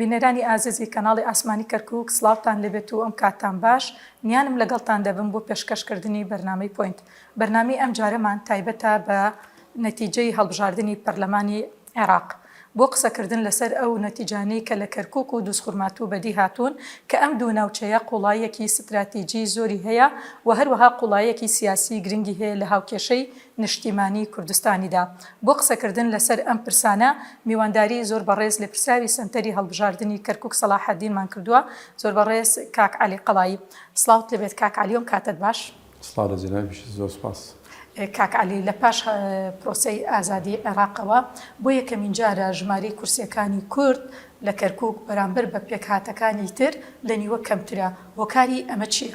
بینەرانی ئازیزی کەناڵی ئاسمانی کەرکوک سڵاوتان لێبێت و ئەم کاتتان باش، میانم لەگەڵتان دەبم بۆ پێشکەش کردنی بەرنامەی پۆینت. بەرنامەی ئەم جارەمان تایبەتە بە نەتیجەی هەڵبژاردنی پەرلەمانی عێراق بۆ قسەکردن لەسەر ئەو نەتیجانەی کە لە کەرکوک و دوزخورماتوو بەدی هاتوون کە ئەم دوو ناوچەیە قوڵاییەکی ستراتیجی زۆری هەیە و هەروەها قوڵاییەکی سیاسی گرنگی هەیە لە هاوکێشەی نیشتیمانی کوردستانیدا. بۆ قسەکردن لەسەر ئەم پرسانە میوانداری زۆر بەڕێز لێپرسراوی سەنتەری هەڵبژاردنی کەرکوک سەڵاحەدینمان کردووە زۆر بەڕێز کاک عەلی قەڵایی. سڵاوت لێبێت کاک عەلی وم کاتەت باش. سڵاو لە جەنابیشت زۆر سوپاس. کاک عەلی لە پاش پرۆسەی ئازادی عێراقەوە بۆ یەکەمین جارە ژمارەی کورسیەکانی کورد لە کەرکوک بەرامبەر بە پێکهاتەکانی تر لە نیوە کەمترە هۆکاری ئەمە چیە؟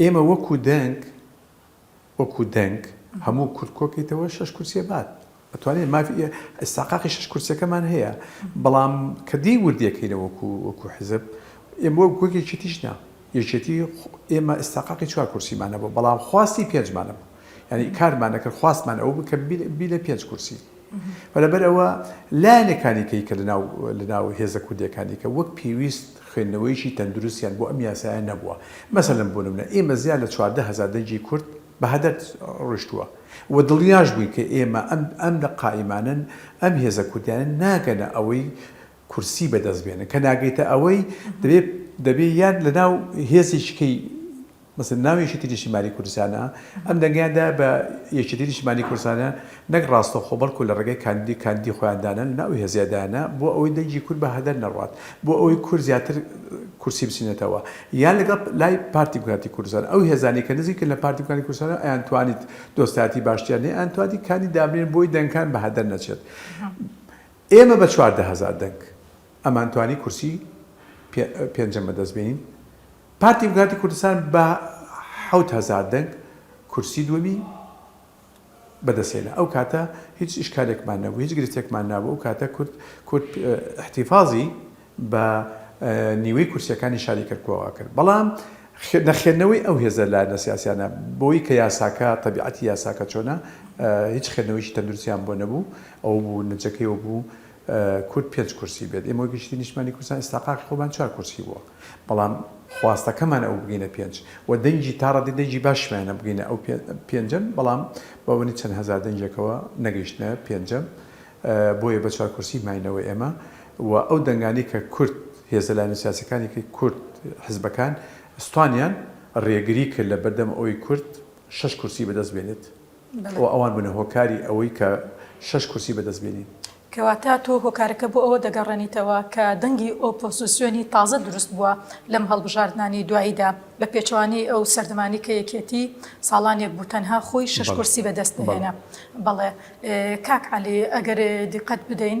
ئێمە وەکو دەنگ وەکو دەنگ هەموو کورد کۆکەیتەوە شەش کورسیە بات ئەتوانێت مافی ئستاقاقی شەش کورسەکەمان هەیە بەڵام کە دی وردیەکەینە وەکو وەکو حزب ئێمە وەک گوێک یەکێتیش نا یەکێتی ئێمە ئستاقاقی چوار کورسیمانە بۆ بەڵام خواستی پێنجمانە بوو یعنی کارمانەکرد خواستمان ئەو بکە بی لە پێنج کورسی و لەبەر ئەوە لایەنەکانی کەی کە لەناو لەناو هێزە کوردیەکانی کە وەک پێویست خوێندنەوەیەکی تەندروستیان بۆ ئەم یاسایە نەبووە مەسەلەن بۆ نمونە ئێمە زیاد لە چواردە هەزار دەنگی کورد بە هەدەر ڕۆشتووە و دڵنیاش بووین کە ئێمە ئەم ئەم لە قائیمانەن ئەم هێزە کوردیانە ناگەنە ئەوەی کورسی بەدەست بێنن کە ناگەیتە ئەوەی دەبێ دەبێ یان لەناو هێزێکی کەی مثل ناو یەکێتی نیشتیمانی کوردستانە، ئەم دەنگەیان دایە بە یەکێتی نیشتیمانی کوردستانە نەک ڕاستەوخۆ بەڵکو لە ڕێگای کاندیدی کاندیدی خۆیان دانەن لەناو ئەو هێزەیا دایانە بۆ ئەوەی دەنگی کورد بە هەدەر نەڕوات بۆ ئەوەی کورد زیاتر کورسی بچینێتەوە یان لەگەڵ لای پارتی دیموکراتی کوردستان ئەو هێزانەی کە نزیکن لە پارتی دیموکراتی کوردستان ئەیان توانیت دۆستایەتی باشتریان لێ ئەیان توانیت کاندید دابنێن بۆی دەنگەکان بە هەدەر نەچێت ئێمە بە چواردە هەزار دەنگ ئەمان توانی کورسی پێنجەم بەدەست بێنین پارتی دیموکراتی کوردستان بە حەوت هەزار دەنگ کورسی دووەمی بەدەستهێنا، ئەو کاتە هیچ ئیشکالێکمان نەبوو، هیچ گرفتێکمان نەبوو، ئەو کاتە کورد کورد ئیحتیفازی بە نیوەی کورسییەکانی شاری کەرکووک ئەکرد، بەڵام نەخوێندنەوەی ئەو هێزە لایەنە سیاسییانە بەوەی کە یاساکە تەبیعەتی یاساکە چۆنە هیچ خوێندنەوەیەکی تەندروستیان بۆ نەبوو، ئەوە بوو نەتیجەکەی ئەوە بوو کورد پێنج کورسی بێت ئێمە وەک یەکێتی نیشتمانی کوردستان ئیستاقاقی خۆمان چوار کورسی بووە بەڵام خواستەکەمان ئەوە بگەینە پێنج و دەنگی تا ڕادەی دەنگی باشمانە بگەینە ئەو پێنجەم بەڵام بە بۆنەی چەند هەزار دەنگێکەوە نەگەیشتنە پێنجەم بۆیە بە چوار کورسی ماینەوە ئێمە و ئەو دەنگانەی کە کورد هێزە لایەنە سیاسیەکانی کە کورد حزبەکان ستوانیان ڕێگری کرد لە بەردەم ئەوەی کورد شەش کورسی بەدەست بێنێت. و ئەوان بنە هۆکاری ئەوەی کە شەش کورسی بەدەست بێنین. کەواتە تۆ هۆکارەکە بۆ ئەوە دەگەڕێنیتەوە کە دەنگی ئۆپۆزیسیۆنی تازە دروست بووە لەم هەڵبژاردنانەی دواییدا، بە پێچەوانەی ئەو سەردەمانەی کە یەکێتی ساڵانێک بوو تەنها خۆی شەش کورسی بەدەست دەهێنا. بەڵێ کاک عەلی ئەگەر دیقەت بدەین،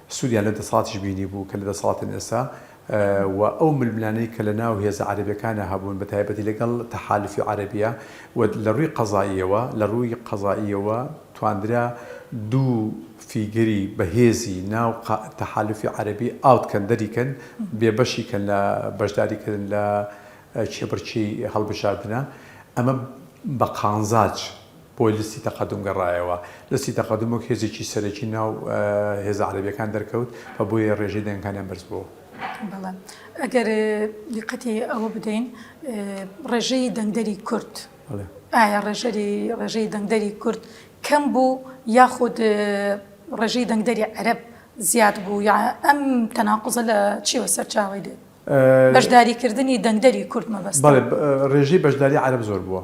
سوریان لە دەسەڵاتیش بینیبوو کە لە دەسەڵاتن ئێستا و ئەو ململانێی کە لە ناو هێزە عەرەبیەکانا هەبوون بە تایبەتی لەگەڵ تەحالوفی عەرەبیە و لە ڕووی قەزائیەوە لە ڕووی قەزائیەوە تواندرا دوو فیگەری بەهێزی ناو تەحالوفی عەرەبی ئاوت کەن دەری کەن بێ بەشی کەن لە بەشداری کردن لە کێبڕکێی هەڵبژاردنە ئەمە بە قانزاج بۆ لستی تەقەدوم گەڕایەوە. لستی تەقەدوم وەک هێزێکی سەرەکی ناو هێزە عەرەبیەکان دەرکەوت و بۆیە رێژەی دەنگەکانیان بەرزبووەوە. بەڵێ ئەگەر دیقەتی ئەوە بدەین رێژەی دەنگدەری کورد ئایا رێژەری رێژەی دەنگدەری کورد کەم بوو یاخود رێژەی دەنگدەری عەرەب زیاد بوو یا ئەم تەناقوزە لە چیەوە سەرچاوەی دێت؟ بەشداریکردنی دەنگدەری کورد مەبەستە. بەڵێ رێژەی بەشداری عەرەب زۆر بووە.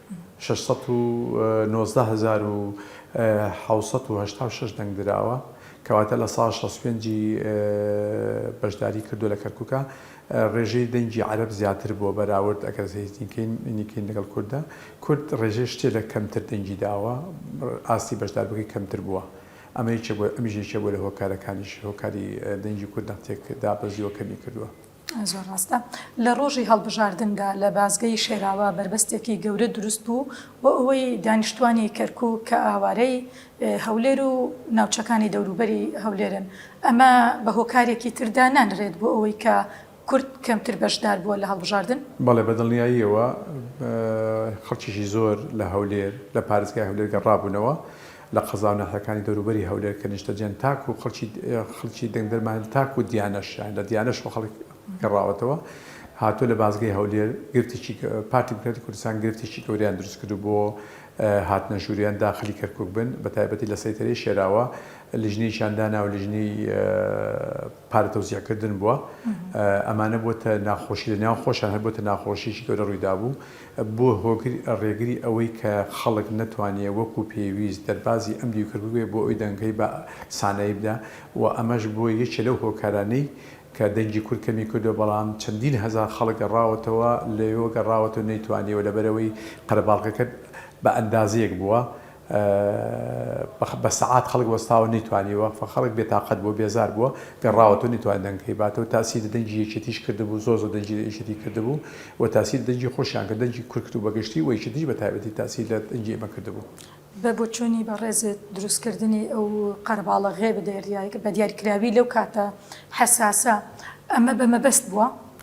شەش سەد و نۆزدە هەزار و حەوت سەد و هەشتا و شەش دەنگ دراوە، کەواتە لە سەدا شەست و پێنج ی بەشداری کردووە لە کەرکوکا، ڕێژەی دەنگی عەرەب زیاتر بووە بەراورد ئەگەر زەیتینکەین لەگەڵ کورددا، کورد ڕێژەی شتێ لە کەمتر دەنگی داوە، ئاستی بەشداربووەکەی کەمتر بووە، ئەمە یەکێک بووە ئەمیش یەکێک بووە لە هۆکارەکانیش هۆکاری دەنگی کورد دەق تێک دابەزیوە کەمی کردووە. زۆر ڕاستە لە ڕۆژی هەڵبژاردندا لە بازگەی شێراوا بەربەستێکی گەورە دروست بوو بۆ ئەوەی دانیشتوانی کەرکوک کە ئاوارەی هەولێر و ناوچەکانی دەوروبەری هەولێرن ئەمە بە هۆکارێکی تر دانانرێت بۆ ئەوەی کە کورد کەمتر بەشدار بووە لە هەڵبژاردن؟ بەڵێ بە دڵنیاییەوە خەڵکیکی زۆر لە هەولێر لە پارێزگای هەولێر گەڕابوونەوە لە قەزا و ناحیەکانی دەوروبەری هەولێر کە نیشتەجێن تاکو خەڵکی دەنگدەرمان تاکو دیانەش یان لە دیانەشەوە خەڵک گەڕاوەتەوە هاتووە لە بازگەی هەولێر گرفتێکی پارتی دیموکراتی کوردستان گرفتێکی گەوریان دروست کردو بۆ هاتنە ژووریان داخلی کەرکوک بن بە تایبەتی لە سەیتەرەی شێراوە لیژنەیەکیان دانا و لیژنەی پارە تەوزیعکردن بووە ئەمانە بۆتە ناخۆشی لە ناو خۆشیان هەر بۆتە ناخۆشیی گەورە ڕوویدابوو بووە هۆگر ڕێگری ئەوەی کە خەڵک نەتوانیە وەکو پێویست دەربازی ئەم دیوکرد ببێ بۆ ئەوی دەنگەی بە سانایی بدا و ئەمەش بووە یەکێ لەو هۆکارانەی کە دەنگی کورد کەمی کردوە بەڵام چەندین هەزار خەڵک گەڕاوەتەوە لەوێوە گەڕاوەتەوە نەیتوانیەوە لەبەرئەوەی قەرەباڵغەکە بە ئەندازەیەک بووە بە بە سەعات خەڵک وەستاوە نەیتوانیوە خەڵک بێ تاقەت بووە بێزار بووە گەڕاوەتەوە نەیتوانی دەنگەکەی باتەوە تاسیری دەنگی یەکێتیش کردبوو زۆر زۆر دەنگی یەکێتی کردبوو و تاسیری دەنگی خۆشیان کرد دەنگی کورد و بەگشتی و یەکێتیش بە تایبەتی تاسیر لە دەنگی ئێمە کردبوو. بە بۆچوونی بەڕێزت دروستکردنی ئەو قەرەباڵغییە بە دیاریکراوی لەو کاتە حەساسە ئەمە بە مەبەست بووە؟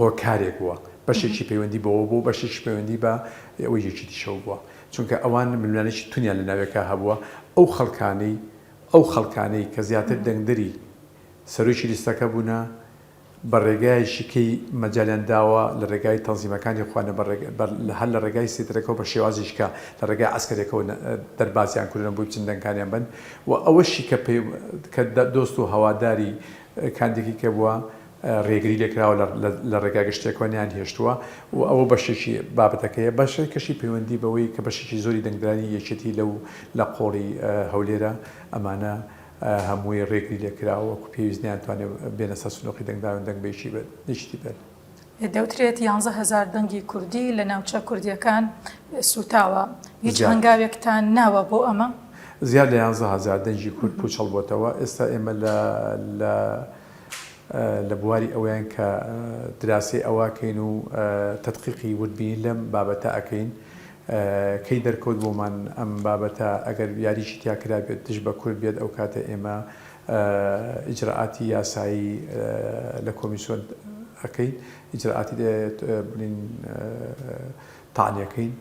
هۆکارێک بووە بەشێکی پەیوەندی بەوە بووە بەشێکیش پەیوەندی بە ئەوەی یەکێتیشەوە بووە چونکە ئەوان ململانێکی تونیان لە ناوێکا هەبووە ئەو خەڵکانەی ئەو خەڵکانەی کە زیاتر دەنگدەری سەرۆکی لیستەکە بوونە بە ڕێگایەکی کەی مەجالیان داوە لە ڕێگای تەنزیمەکانی خۆیان نە بە ڕێگ بە لە هەر لە ڕێگای سیترەکەو بە شێوازیش کە لە ڕێگای عەسکەریەکەوە نە دەربازیان کردونە بۆی بچن دەنگانیان بەن و ئەوەشی کە پێ کە دۆست و هەواداری کاندیکی کە بووە رێگری لێکراوە لە رێگا گشتیەکەوە نەیانهێشتووە و ئەوە بەشێکی بابەتەکەیە، بەشێکەشی پەیوەندی بەوەی کە بەشێکی زۆری دەنگدەرانی یەکێتی لەو لە قۆڵی هەولێرە ئەمانە هەمووی رێگری لێکراوە وەکو پێویست نەیانتوانێ بێنە سەر سندوقی دەنگدانو دەنگ بەیەکیتی بەن. دەوترێت یانزە هەزار دەنگی کوردی لە ناوچە کوردیەکان سوتاوە، هیچ هەنگاوێکتان ناوە بۆ ئەمە؟ زیاد لە یانزە هەزار دەنگی کورد پوچەڵ بۆتەوە، ئێستا ئێمە لە لە بواری ئەوەیان کە دراسەی ئەوە ئەکەین و تەدقیقی وردبینی لەم بابەتە ئەکەین کەی دەرکەوت بۆمان ئەم بابەتە ئەگەر یاریشی تیا کرابێت دژ بە کورد بێت ئەو کاتە ئێمە ئیجرائاتی یاسایی لە کۆمیسۆن ئەکەین ئیجرائاتی بڵین تانیەکەین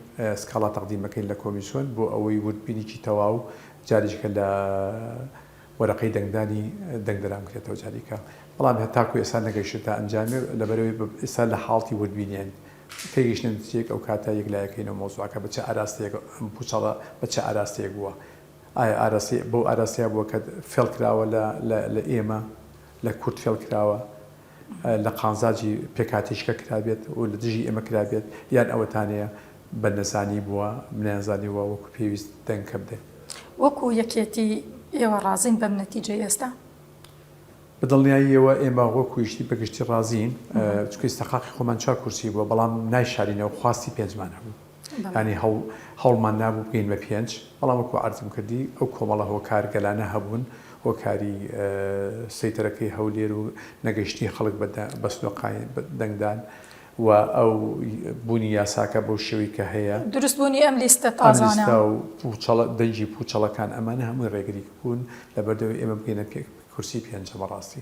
سکاڵا تەقدیمەکەین لە کۆمیسۆن بۆ ئەوەی وردبینیی تەواو جاریشکە لە وەرەقەی دەنگدانی دەنگ درا بکرێتەوە جاریکە بەڵام هەتاکو ئێستا نەگەیشتێتە ئەنجامێ لەبەرەوەی ئێستا لە حاڵتی وردبینێن تێگەیشتنە نتیجەیەک ئەو کاتە یەکلایەکەینەوە مەوزوعەکە بە چ ئاراستەیەک ئەم پوچەڵە بە چ ئاراستەیەک بووە ئایا ئاراستەی بەو ئاراستەیە بووە کە فێڵ کراوە لە لە ئێمە لە کورد فێڵ کراوە لە قازانجی پێکهاتەیشکە کرابێت و لە دژی ئێمە کرابێت، یان ئەوەتانەیە بە نەزانی بووە، نەیانزانیووە وەکو پێویست دەنگ کە بدەین؟ وەکو یەکێتی ئێوە ڕازین بەم نەتیجەی ئێستا؟ بە دڵنیاییەوە ئێمە وەکو یشتی بە گشتی ڕازین، چونکە ئیستحقاقی خۆمان چوار کورسی بووە، بەڵام نایشارینەوە، خواستی پێنجمان هەبوو. یانی هەوڵمان نابوو بگەین بە پێنج، بەڵام وەکو عەرزم کردی ئەو کۆمەڵە هۆکار گەلانە هەبوون، هۆکاری سەیتەرەکەی هەولێر و نەگەیشتنی خەڵک بە سنوقاین دەنگدان و ئەو بوونی یاساکە بەو شێوەی کە هەیە، دروست بوونی ئەم لیستە تازانە و دەنگی پوچەڵەکان ئەمانە هەمووی ڕێگری بوون لەبەردەوەی ئێمە بگەینە پێک. کورسی پێنجە بەڕاستی.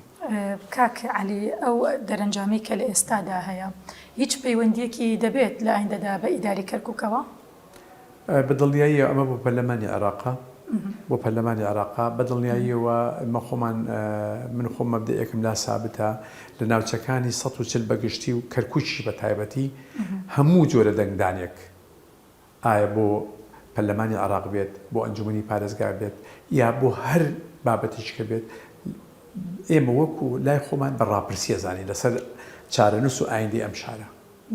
کاک عەلی ئەو دەرەنجامەی کە لە ئێستادا هەیە هیچ پەیوەندیەکی دەبێت لە ئایندەدا بە ئیدارەی کەرکوکەوە؟ بە دڵنیاییەوە ئەمە بۆ پەرلەمانی عێراقە بۆ پەرلەمانی عێراقە بە دڵنیاییەوە ئێمە خۆمان من خۆم مەبدەئێکم لا سابتە لە ناوچەکانی سەد و چل بە گشتی و کەرکوکیش بە تایبەتی هەموو جۆرە دەنگدانێک ئایا بۆ پەرلەمانی عێراق بێت، بۆ ئەنجوومەنی پارێزگا بێت یا بۆ هەر بابەتێکی کە بێت، ئێمە وەکو لای خۆمان بە ڕاپرسی ئەزانین لەسەر چارەنووس و ئایندەی ئەم شارە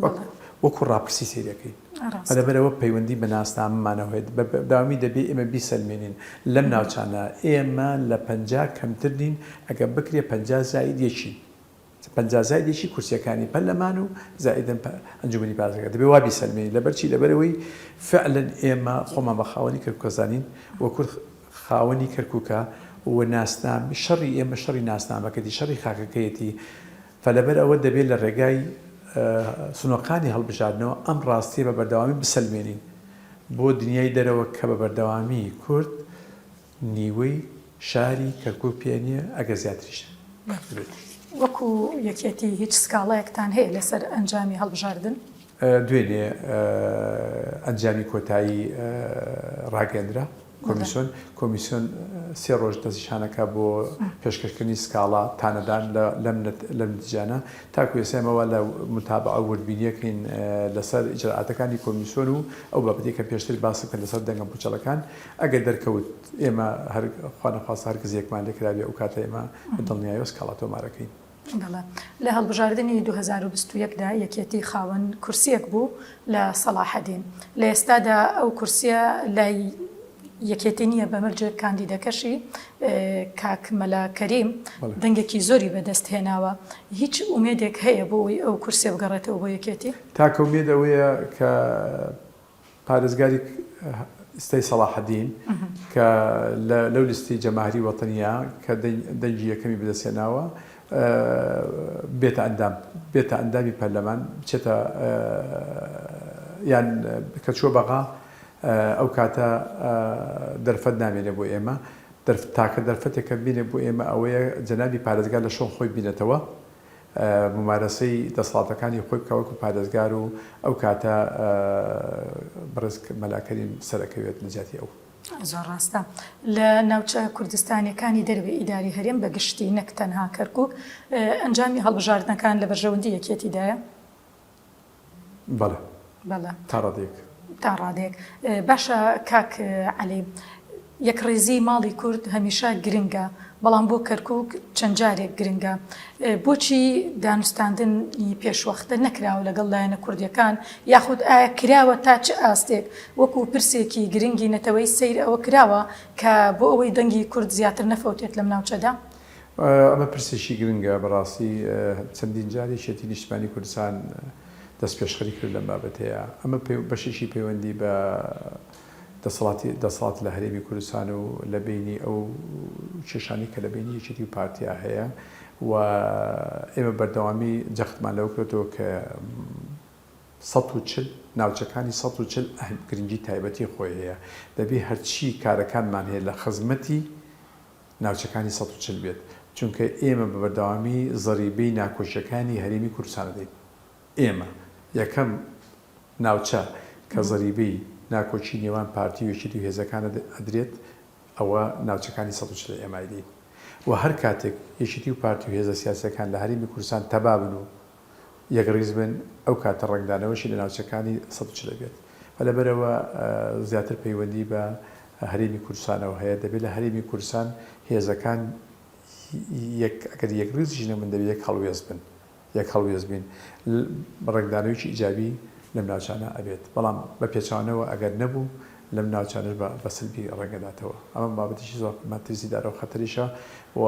وەک وەکو ڕاپرسی سەیری ئەکەین. ڕاستە. لەبەرئەوە پەیوەندی بە ناسنامەمانەوە هەیە، بە بەردەوامی دەبێ ئێمە بیسەلمێنین لەم ناوچانە ئێمە لە پەنجا کەمتر نین، ئەگەر بکرێ پەنجا زائید یەکین. پەنجا زایدێکی کورسیەکانی پەرلەمان و زائیدەن ئەنجومەنی بازرگان دەبێت وا بیسەلمێنین لەبەر چی لەبەر ئەوەی فعلەن ئێمە خۆمان بە خاوەنی کەرکوک ئەزانین و کورد خاوەنی کەرکوکە و ناسنام شەڕی ئێمە شەڕی ناسنامەکەتی شەڕی خاکەکەیەتی فلەبەر ئەوە دەبێت لە ڕێگای سنۆقانی هەڵبژاردنەوە ئەم ڕاستیە بە بەردەوامی بسەلمێنین بۆ دنیای دەرەوە کە بە بەردەوامی کورد نیوەی شاری کەرکوک پێ نیە ئەگەر زیاتریش بێت. وەکو یەکێتی هیچ سکاڵایەکتان هەیە لەسەر ئەنجامی هەڵبژاردن؟ دوێنێ ئەنجامی کۆتایی ڕاگەیەندرا کۆمیسۆن، کۆمیسۆن سێ ڕۆژ دەستی شانەکە بۆ پێشکەشکردنی سکاڵا تانەدان لەم نتیجانە، تاکو ئێستا ئێمە وا لە موتابەعە و وردبینیەکەین لەسەر ئیجرائاتەکانی کۆمیسۆن و ئەو بابەتەی کە پێشتر باسم کرد لەسەر دەنگە پوچەڵەکان، ئەگەر دەرکەوت ئێمە هەر خوا نەخواستە هەر کزیەکمان لێ کرابێ ئەو کاتە ئێمە بە دڵنیایەوە سکاڵا تۆمارەکەین. دەڵێ، لە هەڵبژاردنی دوو هەزار و بیست و یەک دا یەکێتی خاوەن کورسییەک بوو لە سەڵاحەدین، لە ئێستادا ئەو کورسییە لای یەکێتی نییە، بە مەرجێک کاندیدەکەشی کاک مەلا کەریم دەنگێکی زۆری بە دەست هێناوە، هیچ ئومێدێک هەیە بۆ ئەوەی ئەو کورسییە بگەڕێتەوە بۆ یەکێتی؟ تاکە ئومێد ئەوەیە کە پارێزگاری ستەی سەڵاحەدین کە لەو لیستەی جەماهری وەتەنیە کە دەنگی یەکەمی بەدەستهێناوە بێتە ئەندام بێتە ئەندامی پەرلەمان بچێتە یان کە چووە بەغا ئەو کاتە دەرفەت نامێنێ بۆ ئێمە تاکە دەرفەتێکە بینێ بۆ ئێمە ئەوەیە جەنابی پارێزگار لە شۆن خۆی بینێتەوە مومارەسەی دەسەڵاتەکانی خۆی بکا وەکو پارێزگار و ئەو کاتە بەڕێز مەلا کەریم سەرەکەوێت لە جیاتی ئەو. زۆر ڕاستە لە ناوچە کوردستانیەکانی دەرەوەی ئیدارەی هەرێم بە گشتی نەک تەنها کەرکوک ئەنجامی هەڵبژاردنەکان لە بەرژەوەندی یەکیەتیدایە. بەڵێ بەڵێ تا ڕادەیەک. تا ڕادەیەک باشە کاک عەلی یەکڕیزی ماڵی کورد هەمیشە گرنگە بەڵام بۆ کەرکک چەند جارێک گرنگە بۆچی دانوستاندنی پێشوەختە نەکراوە لەگەڵ لایەنە کوردیەکان یاخود ئایا کراوە تا چ ئاستێک وەکو پرسێکی گرنگی نەتەوەی سەیر ئەوە کراوە کە بۆ ئەوەی دەنگی کورد زیاتر نەفەوتێت لەم ناوچەدا ئەمە پرسێکی گرنگە، بەڕاستی چەندین جار یەکێتی نیشتمانی کوردستان دەستپێشخەری کرد لەم بابەتەیە. ئەمە بەشێکی پەیوەندی بە دەسەڵاتی دەسەڵات لە هەرێمی کوردستان و لە بەینی ئەو کێشانەی کە لە بەینی یەکێتی و پارتیا هەیە و ئێمە بەردەوامی جەختمان لەوە کردەوە کە سەد و چل ناوچەکانی سەد و چل گرنگی تایبەتی خۆی هەیە دەبێ هەرچی کارەکانمان هەیە لە خزمەتی ناوچەکانی سەد و چل بێت، چونکە ئێمە بە بەردەوامی زەریبەی ناکۆکییەکانی هەرێمی کوردستان دەدەین. ئێمە یەکەم ناوچە کە زەریبەی ناکۆکی نێوان پارتی و یەکێتی و هێزەکانە ئەدرێت، ئەوە ناوچەکانی سەد و چل ە ئێمە ئەیدەین و هەر کاتێک یەکێتی و پارتی و هێزە سیاسییەکان لە هەرێمی کوردستان تەبا بن و، یەکڕیز بن، ئەو کاتە ڕەنگدانەوەشی لە ناوچەکانی سەد و چل بێت. و لەبەرئەوە زیاتر پەیوەندی بە هەرێمی کوردستانەوە هەیە، دەبێت لە هەرێمی کوردستان هێزەکان یەک ئەگەر یەکڕیزیش نەبن دەبێت یەک هەڵوێست بن، یەک هەڵوێست بین ڕەنگدانەوەیەکی ئیجابی لەم ناوچانە ئەبێت، بەڵام بە پێچەوانەوە ئەگەر نەبوو لەم ناوچانەش بە بە سەلبی ڕەنگداتەوە. ئەمە بابەتێکی زۆر مەترسیدارە و خەتەریشە و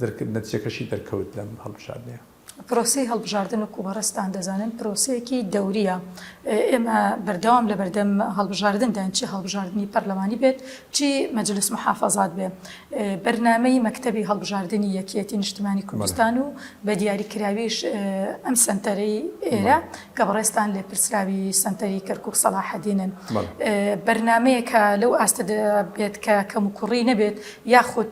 دەرکرد، نەتیجەکەشی دەرکەوت لەم هەڵبژاردنەیە. پرۆسەی هەڵبژاردن وەکو بەڕێزتان دەزانن پرۆسەیەکی دەورییە، ئێمە بەردەوام لەبەردەم هەڵبژاردنداین چی هەڵبژاردنی پەرلەمانی بێت چی مەجلس محافەزات بێ بەرنامەی مەکتەبی هەڵبژاردنی یەکیەتی نیشتمانی کوردستان و بەدیاریکراویش ئەم سەنتەرەی ئێرە کە بەڕێزتان لێپرسراوی سەنتەری کەرکوک سەڵاحەدینن، بەرنامەیەک لەو ئاستەدا بێت کە کەموکوڕی نەبێت، یاخود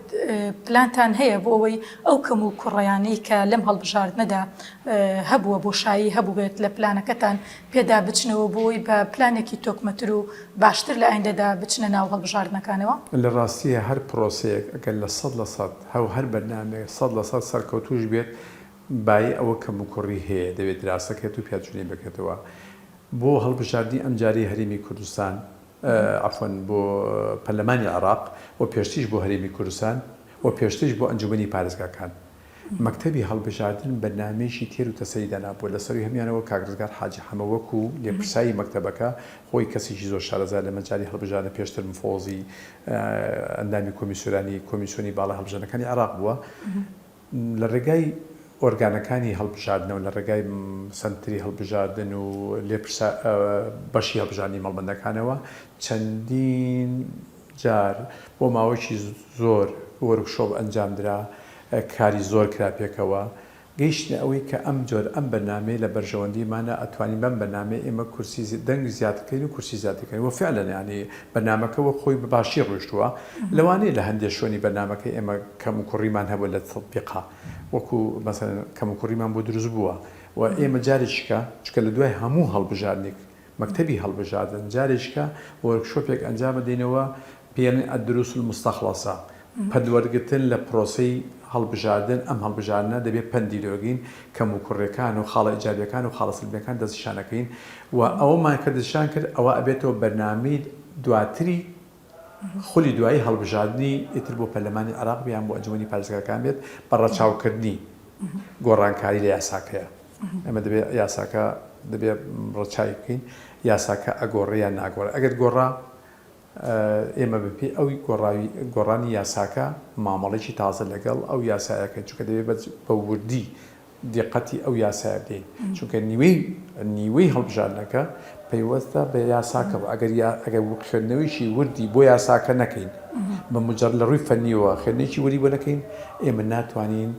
پلانتان هەیە بۆ ئەوەی ئەو کەموکوڕیانەی کە لەم هەڵبژاردنەدا هەبووە بۆشایی هەبووبێت لە پلانەکەتان پێدا بچنەوە بۆ ئەوەی بە پلانێکی تۆکمەتر و باشتر لە ئایندەدا بچنە ناو هەڵبژاردنەکانەوە؟ لە ڕاستییە هەر پرۆسەیەک ئەگەر لە سەد لە سەد هەو هەر بەرنامەیەک سەد لە سەد سەرکەوتووش بێت، بایی ئەوە کەموکوڕی هەیە دەبێت دراسەکرێت و پیادچونی بکرێتەوە بۆ هەڵبژاردنی ئەمجارەی هەرێمی کوردستان عەفوەن بۆ پەرلەمانی عێراق و پێشتریش بۆ هەرێمی کوردستان و پێشتریش بۆ ئەنجومەنی پارێزگاکان مەکتەبی هەڵبژاردن بەرنامەیەکی تێر و تەسەلی دانابوو لەسەروی هەمویانەوە کاک ڕزگار حاجی حەمە وەکو لێپرساوی مەکتەبەکە خۆی کەسێکی زۆر شارەزا لە مەجالی هەڵبژاردنە پێشتر مفۆزی ئەندامی کۆمیسیۆرانی کۆمیسیۆنی باڵای هەڵبژاردنەکانی عێراق بووە لە ڕێگای ئۆرگانەکانی هەڵبژاردنەوە، لە ڕێگای سەنتری هەڵبژاردن و لێپرسە بەشی هەڵبژاردنی مەڵبەندەکانەوە چەندین جار بۆ ماوەیەکی زۆر وۆرکشۆپ ئەنجامدرا، کاری زۆر کرا پێکەوە، گەیشتینە ئەوەی کە ئەم جۆرە، ئەم بەرنامەیە لە بەرژەوەندیمانە، ئەتوانین بەم بەرنامەیە ئێمە کورسی دەنگ زیاد بکەین و کورسی زیاد دەکەین و فیعلەن یانی، بەرنامەکە وەک خۆی بە باشی ڕۆیشتووە، لەوانەیە لە هەندێ شوێنی بەرنامەکە ئێمە کەموکوڕیمان هەبووە لە تەتبیقا وەکو مەسەلەن کەموکوڕیمان بۆ دروست بووە و ئێمە جارێکیکە چونکە لە دوای هەموو هەڵبژاردنێک مەکتەبی هەڵبژاردن جارێکیکە وۆرکشۆپێک ئەنجام دەینەوە پێیەڵێن الدروس المستخلصە پەندوەرگرتن لە پرۆسەی هەڵبژاردن، ئەم هەڵبژاردنە دەبێ پەندی لۆگین، کەموکوڕیەکان و خاڵە ئیجابیەکان و خاڵە سەلبیەکان دەستنیشانەکەین و ئەوەمان کە دەستنیشان کرد ئەوە ئەبێتەوە بەرنامەی دواتری خولی دوایی هەڵبژاردنی ئیتر بۆ پەرلەمانی عێراق یان بۆ ئەنجومەنی پارێزگاکان بێت بە ڕەچاوکردنی گۆڕانکاری لە یاساکەیە ئەمە دەبێ یاساکە دەبێ ڕەچاوی بکەین یاساکە ئەگۆڕێ یان ناگۆڕێ ئەگەر گۆڕا ئێمە بەپێی ئەو گۆڕاوی گۆڕانی یاساکە مامەڵەیەکی تازە لەگەڵ ئەو یاسایە کەین چونکە دەبێ بە بە وردی دیقەتی ئەو یاسایە بدەین چونکە نیوەی نیوەی هەڵبژاردنەکە پەیوەستە بە یاساکەوە ئەگەر یا ئەگەر خوێندنەوەیشی وردی بۆ یاساکە نەکەین بە مجر لە ڕووی فەنیەوە خوێندنێکی وری بۆ نەکەین ئێمە ناتوانین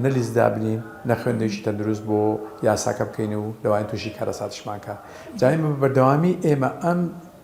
نە لیست دابنین نە خوێندنێکی تەندروست بۆ یاساکە بکەین و لەوان تووشی کارەساتشمانکە جای بە بەردەوامی ئێمە ئەم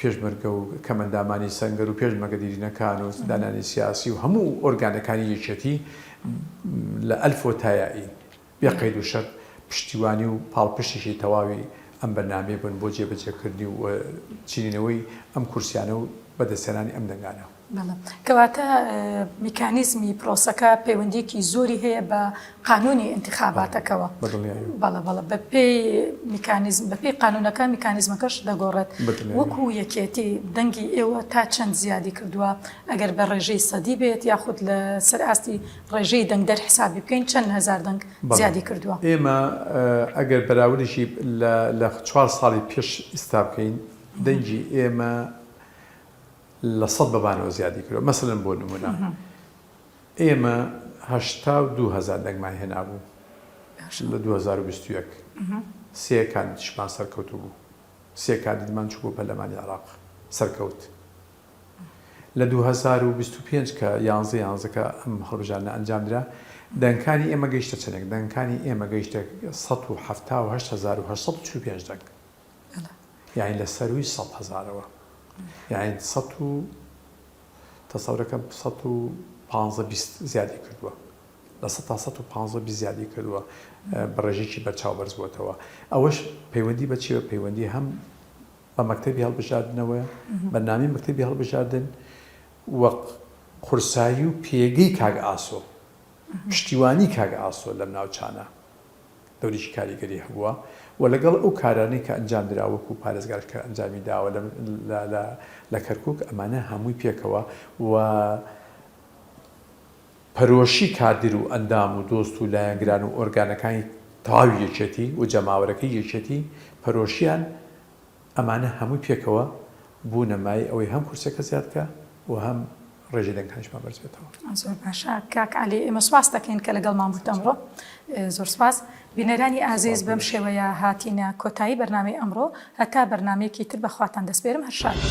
پێشمەرگە و کەمەندامانی سەنگەر و پێشمەرگە دیرینەکان و زیندانیانی سیاسی و هەموو ئۆرگانەکانی یەکێتی لە ئەلفۆ تا یائی بێ قەید و شەرت پشتیوانی و پاڵپشتیی تەواوی ئەم بەرنامەیە بوون بۆ جێبەجێکردنی و چنینەوەی ئەم کورسیانە و بەدەستهێنانی ئەم دەنگانە. بەڵێ، کەواتە میکانیزمی پرۆسەکە پەیوەندیەکی زۆری هەیە بە قانونی ئینتخاباتەکەوە بەڵە بەڵە بە پێی میکانیزم بە پێی قانونەکە میکانیزمەکەش دەگۆڕێت وەکو یەکێتی دەنگی ئێوە تا چەند زیادی کردووە ئەگەر بە ڕێژەی سەدی بێت یاخود لە سەر ئاستی ڕێژەی دەنگ دەر حسابی بکەین چەند هزار دەنگ زیادی کردووە ئێمە ئەگەر بەراوریشی لە چوار ساڵی پێش ئیستا بکەین دەنگی ئێمە لە سەد بەمانەوە زیادی کردوە مەسەلەن بۆ نمونە ئێمە هەشتا و دوو هەزار دەنگمان هێنابوو لە دوو هەزار و بیست و یەک سێ کاندیدشمان سەرکەوت بوو سێ کاندیدمان چوو بۆ پەرلەمانی عێراق سەرکەوت لە دوو هەزار و بیست و پێنج کە یانزە یانزەکە ئەم هەڵبژاردنە ئەنجام درا دەنگکانی ئێمە گەیشتە چەندێک دەنگکانی ئێمە گەیشتە سەد و حەفتا و هەشت هەزار و هەشت سەد و چل و پێنج دەنگ یانی لە سەرووی سەد هەزارەوە یانی سەد و تەسەورەکە سەد و پانزە بیست زیادی کردووە لە سەد تا سەد و پانزە بیست زیادی کردووە بە ڕێژێکی بەرچاو بەرز بووەتەوە ئەوەش پەیوەندی بە چی بە پەیوەندی هەم بە مەکتەبی هەڵبژاردنەوە بە نامی مەکتەبی هەڵبژاردن وەق قورسایی و پێگەی کاک ئاسۆ پشتیوانی کاک ئاسۆ لەم ناوچانە دەوریی کاریگەری هەبووە و لەگەڵ ئەو کارانەی کە ئەنجام درا وەکو پارێزگاش کە ئەنجامی داوە لە کەرکوک ئەمانە هەمووی پێکەوە و پەرۆشی کادر و ئەندام و دۆست و لایەنگران و ئۆرگانەکانی تەواوی یەکێتی و جەماوەرەکەی یەکێتی پەرۆشیان ئەمانە هەمووی پێکەوە بوونە مایەی ئەوەی هەم کورسیەکە زیاد بکا و هەم ڕێژەی دەنگەکانیشمان بەرز بێتەوە. زۆر باشە کاک عەلی ئێمە سوپاست دەکەین کە لەگەڵمان بوویت ئەمڕۆ. زۆر سوپاس. بینەرانی ئازیز بەم شێوەیە هاتینە کۆتایی بەرنامەی ئەمڕۆ. هەتا بەرنامەیەکی تر بەخواتان دەسپێرم هەر شاد بن.